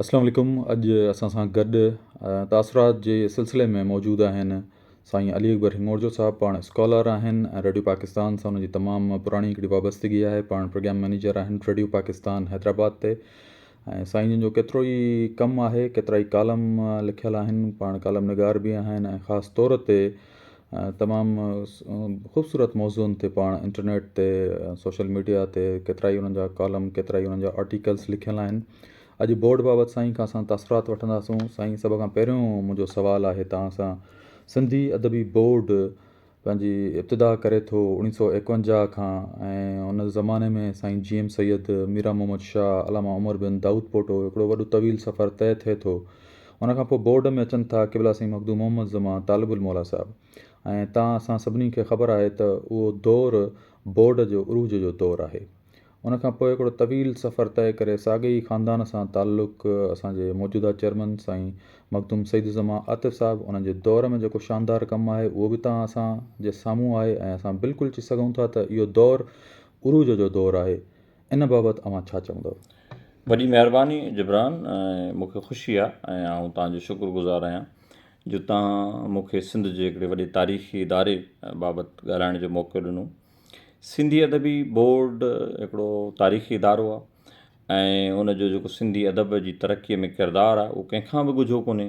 اسلام عليڪم اڄ اسان سان گڏ تاثرات جي سلسلي ۾ موجود آهن سائين علي اڪبر هنگورجو صاحب پاڻ اسڪالر آهن ۽ ريڊيو پاڪستان سان ان جي تمام پراڻي هڪڙي وابستگي آهي پاڻ پروگرام مئنيجر آهن ريڊيو پاڪستان حيدرآباد تي ۽ سائين جن جو ڪيترو ئي ڪم آهي ڪيترا ئي ڪالم لکيل آهن پاڻ ڪالم نگار به آهن ۽ خاص طور تي تمام خوبصورت موضوعن تي پاڻ انٽرنيٽ تي سوشل ميڊيا تي ڪيترائي انهن جا ڪالم ڪيترائي انهن جا آرٽيڪلس لکيل آهن اڄ بورڊ بابت سائين کان اسان تاثرات وٺنداسون سائين سڀ کان پهريون منهنجو سوال آهي توهان سان سنڌي ادبي بورڊ پنهنجي ابتدا ڪري ٿو اوڻيهه سو ايڪونجاهه کان ۽ ان زماني ۾ سائين جي ايم سيد ميرا محمد شاهه علامه عمر بن دائود پوٽو هڪڙو وڏو طويل سفر طئي ٿئي ٿو ان کان پوء بورڊ ۾ اچن ٿا قبلا سائين مخدوم محمد زمان طالب الموليٰ صاحب ۽ تان اسان سڀني کي خبر آهي ته اهو دور بورڊ جو عروج جو دور آهي. ان کان پوء هڪڙو طويل سفر طئي ڪري ساڳئي ئي خاندان سان تعلق اسان جي موجوده چيئرمن سائين مخدوم سعيد الزمان عاطف صاحب انهن جي دور ۾ جيڪو شاندار ڪم آهي اهو به تان اسان جي سامهون آهي ۽ اسان بلڪل چئي سگهون ٿا ته اهو دور عروج جو دور آهي. ان بابت اوهان ڇا چوندؤ؟ وڏي مهرباني جبران ۽ مون کي خوشي آهي ۽ آئون توهان جو شڪر گذار آهيان جو توهان مون کي سنڌ جي هڪڙي وڏي تاريخي اداري بابت ڳالهائڻ جو موقعو ڏنو. سنڌي ادبي بورڊ هڪڙو تاريخي ادارو آهي ۽ ان جو جيڪو سنڌي ادب جي ترقي ۾ ڪردار آهي اهو ڪنهن کان به ڳجهو ڪونهي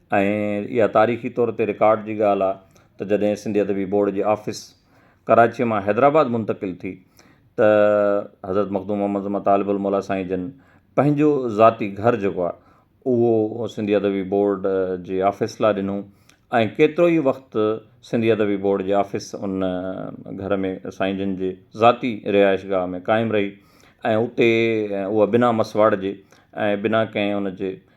۽ اها تاريخي طور تي رڪارڊ جي ڳالهه آ ته جڏهن سنڌي ادبي بورڊ جي آفيس ڪراچيء مان حيدرآباد منتقل ٿي ته حضرت مخدوم محمد زمان طالب الموليٰ سائين جن پنهنجو ذاتي گهر جيڪو آ اهو سنڌي ادبي بورڊ جي آفيس لاء ڏنو ۽ ڪيترو ئي وقت سنڌي ادبي بورڊ جي آفيس ان گهر ۾ سائين جن جي ذاتي رهائش گاهه ۾ قائم رهي ۽ اتي اها بنا مسواڙ جي ۽ بنا ڪنهن ان جي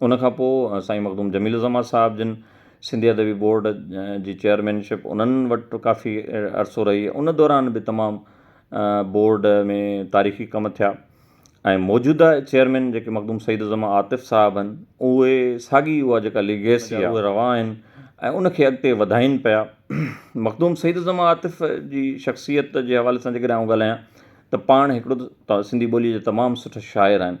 ان کان پوء سائين مخدوم جميل الزمان صاحب جن سنڌي ادبي بورڊ جي چيئرمينشپ انهن وٽ ڪافي عرصو رهي ان دوران به تمام بورڊ ۾ تاريخي ڪم ٿيا ۽ موجوده چيئرمين جيڪي مخدوم سعيد الزمان عاطف صاحب آهن اهي ساڳي اها جيڪا ليگيسي آهي اهي روا آهن ۽ ان کي اڳتي وڌائين پيا مخدوم سعيد الزمان عاطف جي شخصيت جي حوالي سان جيڪڏهن آئون ڳالهايان ته پاڻ هڪڙو ته سنڌي ٻوليء جي تمام سٺا شاعر آهن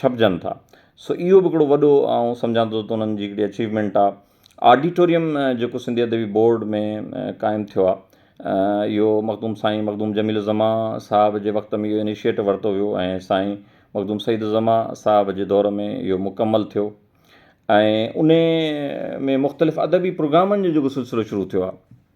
ڇپجن ٿا سو اهو به هڪڙو وڏو آئون سمجهان ٿو ته انهن جي هڪڙي اچيومينٽ آهي آڊيٽوريم جيڪو سنڌي ادبي بورڊ ۾ قائم ٿيو آهي اهو مخدوم سائين مخدوم جميل الزمان صاحب جي وقت ۾ اهو انيشيٽ ورتو ويو ۽ سائين مخدوم سعيد الزمان صاحب جي دور ۾ اهو مڪمل ٿيو ۽ انهي ۾ مختلف ادبي پروگرامن جو جيڪو سلسلو شروع ٿيو آهي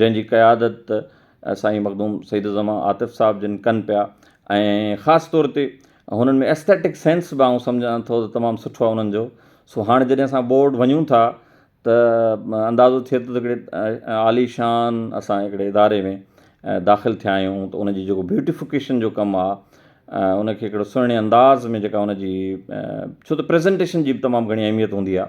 جنهن جي قيادت سائين مخدوم سيد الزمان عاطف صاحب جن ڪن پيا ۽ خاص طور تي هنن ۾ ايسٿيٽڪ سينس به آئون سمجهان ٿو ته تمام سٺو آهي انهن جو سو هاڻي جڏهن اسان بورڊ وڃون ٿا ته اندازو ٿئي ٿو ته هڪڙي عاليشان اسان هڪڙي اداري ۾ داخل ٿيا آهيون ته ان جي جيڪو بيوٽيفڪيشن جو ڪم آهي ان کي هڪڙو سهڻي انداز ۾ جيڪا ان جي ڇو ته پريزنٽيشن جي به تمام گهڻي اهميت هوندي آهي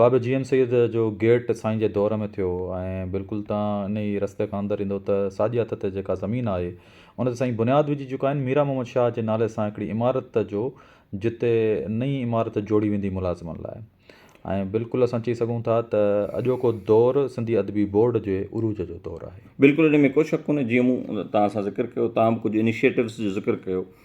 بابي جي ايم سيد جو گيٽ سائين جي دور ۾ ٿيو ۽ بلڪل تان انهي رستي کان اندر ايندو ته ساڄي هٿ تي جيڪا زمين آهي ان تي سائين بنياد وجهي چڪا آهن ميران محمد شاهه جي نالي سان هڪڙي عمارت جو جتي نئين عمارت جوڙي ويندي ملازمن لاء ۽ بلڪل اسان چئي سگهون ٿا ته اڄوڪو دور سنڌي ادبي بورڊ جي عروج جو دور آهي. بلڪل ان ۾ ڪو شڪ ڪونهي جيئن مون توهان سان ذڪر ڪيو توهان به ڪجهه انيشيٽوز جو ذڪر ڪيو.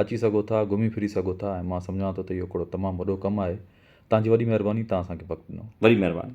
اچي سگهو ٿا، گهمي ڦري سگهو ٿا ۽ مان سمجهان ٿو ته اهو هڪڙو تمام وڏو ڪم آهي. توهان جي وڏي مهرباني توهان اسان کي وقت ڏنو. وڏي مهرباني.